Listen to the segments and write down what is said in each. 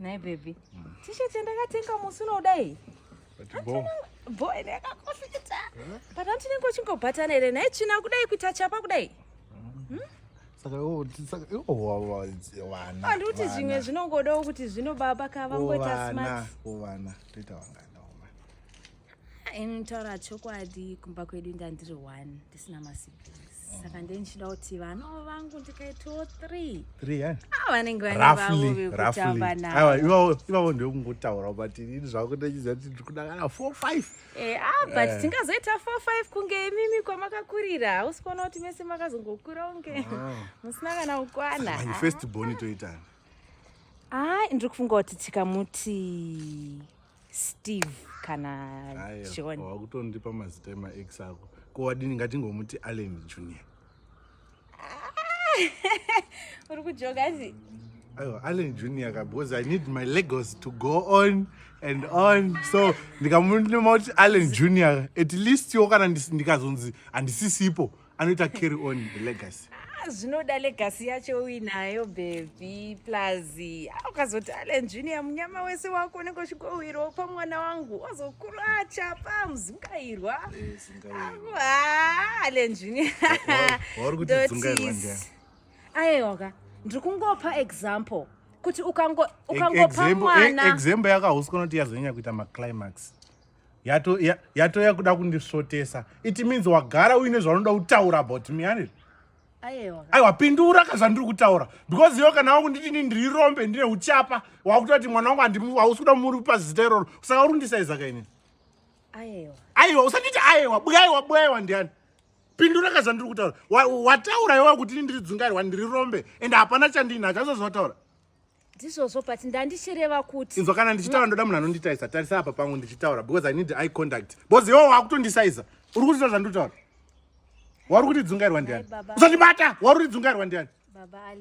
Nhai baby. Mm. T-shirt yandakatenga musi unodai. Bo. Bo ine yakakofita. But anti ningo chingobatana here nhai china kudai kuita chapa kudai. Mm. Hmm? Saka oh, saka oh, oh, oh wana. Anditi zvimwe zvinongodawo kuti zvino baba ka vangoita smart. Oh vana, toita wangana. Inotaura chokwadi kumba kwedu ndandiri one ndisina masiblings. saka ndiye ndichida kuti vana vangu ndikaitawo three three eh? ah, vanenge vanevaoivavo ndekungotaura but ini zvako ndachiziva kuti ndiri kudakana four five eh, ah, but eh. tingazoita four five kunge imimi kwamakakurira hausi kuona kuti mese makazongokura unge ah. musina kana kukwana first boni toitani ai ndiri kufunga kuti tikamuti steve kana john wakutondipa mazita emaex ako ko wadini ngatingomuti allen junior uri kujoga zi aiwa allen junior ka because i need my legos to go on and on so ndikamunema kuti allen junior at least wo kana ndikazonzi handisisipo anoita carry on the legacy ah, zvinoda legacy yacho uinayo bhebhi plus ah, ukazoti alen junior munyama wese wako unenge uchikowirwa pamwana wangu wazokuru achapa muzungairwa ah, alen junior aeoka ndiri kungopa example kuti ukangopa mwana example yakahusi kunoti yazonyanya kuita maclimax yato ya, yato yakuda kundisvotesa it means wagara uine zvaunoda kutaura about me ani aiwa pindura ka zvandiri kutaura because iwe kana wakunditi ni ndiri rombe ndine uchapa wakuta kuti mwana wangu andihausi kuda muri kupa zita iroro saka uri kundisaiza kaini aiwa usanditi aiwa bwaiwa bwaiwa ndiani pindura ka zvandiri kutaura wataura iwe kuti ni ndiri dzungairwa ndiri rombe and hapana chandinacho azvazvataura ndizvozvo but ndandichireva kuti inzwa kana ndichitaura ndoda munhu anonditaisa tarisa apa pangu ndichitaura because i need eye contact because iwo wakutondisaisa uri kutita zvandotaura wari kuti dzungairwa ndiani usandibata wari kuti dzungairwa ndiani baba ale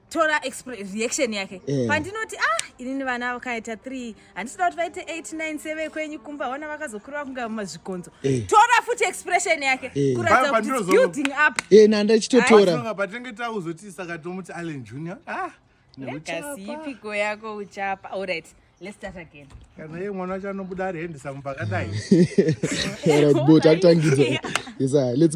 tora reaction yake yeah. pandinoti ah inini vana vakaita 3 handisida kuti vaite 8 9 7 kwenyu kumba vana vakazokurira kunga mazvikonzo hey. Eh. tora futi expression yake hey. Eh. kuratidza kuti it's building up hey, eh, nanda ichitotora patinenge tauzoti saka tomuti allen junior ah yakasipiko yako uchapa allright Let's start again. Kana yeye mwana wacho anobuda ari hendisa mupakadai. All right, but atangidza. Yes, let's go.